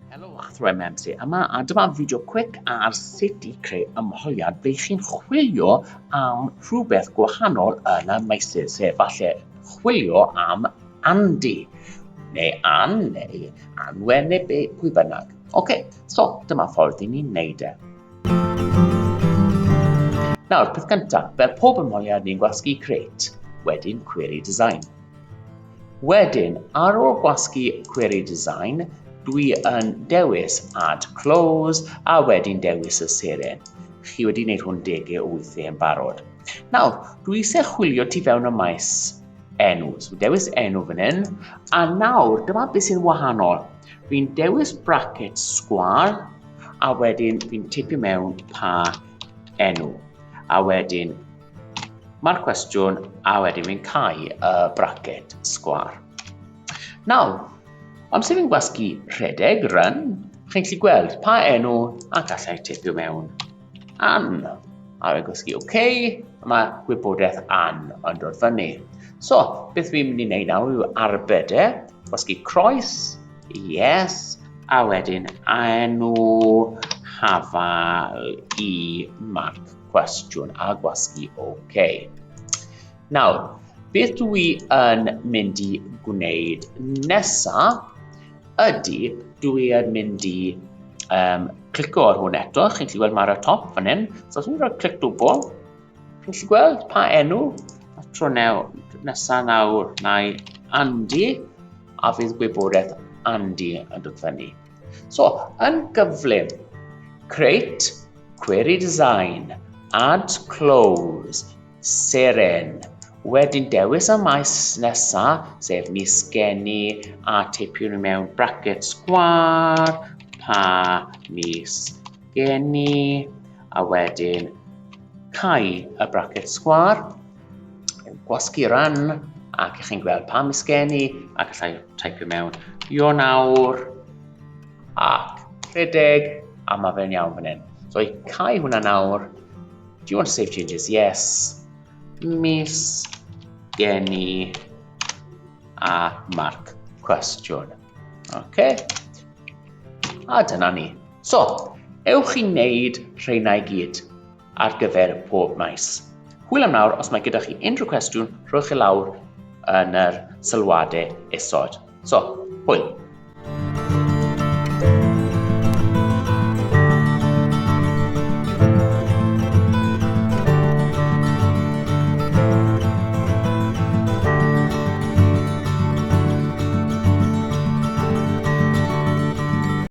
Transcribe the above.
Helo Athro MMC, yma a dyma fideo quick ar sut i creu ymholiad fe chi'n chwilio am rhywbeth gwahanol yn y meysydd, sef falle chwilio am Andy, neu Ann, neu Anwen, neu be, pwy bynnag. Ok, so dyma ffordd i ni wneud e. Nawr, peth cyntaf, fel pob ymholiad ni'n gwasgu create, wedyn query design. Wedyn, ar ôl gwasgu Query Design, dwi yn dewis Add Clause a wedyn dewis y seren. Chi wedi gwneud hwn dege o weithiau yn barod. Nawr, dwi eisiau chwilio tu fewn y maes enw. So dewis enw fan hyn, a nawr dyma beth sy'n wahanol. Fi'n dewis bracket sgwar, a wedyn fi'n tipio mewn pa enw. A wedyn Mae'r cwestiwn a wedyn fi'n cael y bracket sgwar. Nawr, amser fi'n gwasgu rhedeg, run, chi'n gallu gweld pa enw a gallai teipio mewn an. A fi'n gwasgu OK, a mae gwybodaeth an yn dod fyny. So, beth fi'n mynd i wneud nawr yw arbed e, gwasgu croes, yes, a wedyn a enw hafal i Mark cwestiwn a gwasgu OK. Nawr, beth dwi yn mynd i gwneud nesa ydy dwi yn mynd i um, clico ar hwn eto, chi'n gallu gweld mae'r y top fan hyn, so os dwi'n rhoi clic dwbl, chi'n gallu gweld pa enw, a tro new, nesa nawr, nai Andy, a fydd gwybodaeth Andy yn dod fyny. So, yn gyflym, create, query design, add close, seren. Wedyn dewis y maes nesa, sef mis geni, a teipiwn mewn bracket sgwar, pa mis geni, a wedyn cau y bracket sgwar. gwasgu ran ac ych chi'n gweld pa misgenni ac allai typio mewn Io nawr ac rhedeg a mae fe'n iawn fan hyn. So i cael hwnna nawr, do you want to save changes? Yes. Mis geni a marc cwestiwn. Okay. A dyna ni. So, ewch i wneud rheina i gyd. ar gyfer pob maes. Hwyl am nawr, os mae gyda chi unrhyw cwestiwn, rhowch chi e lawr yn yr sylwadau isod. So, hwyl!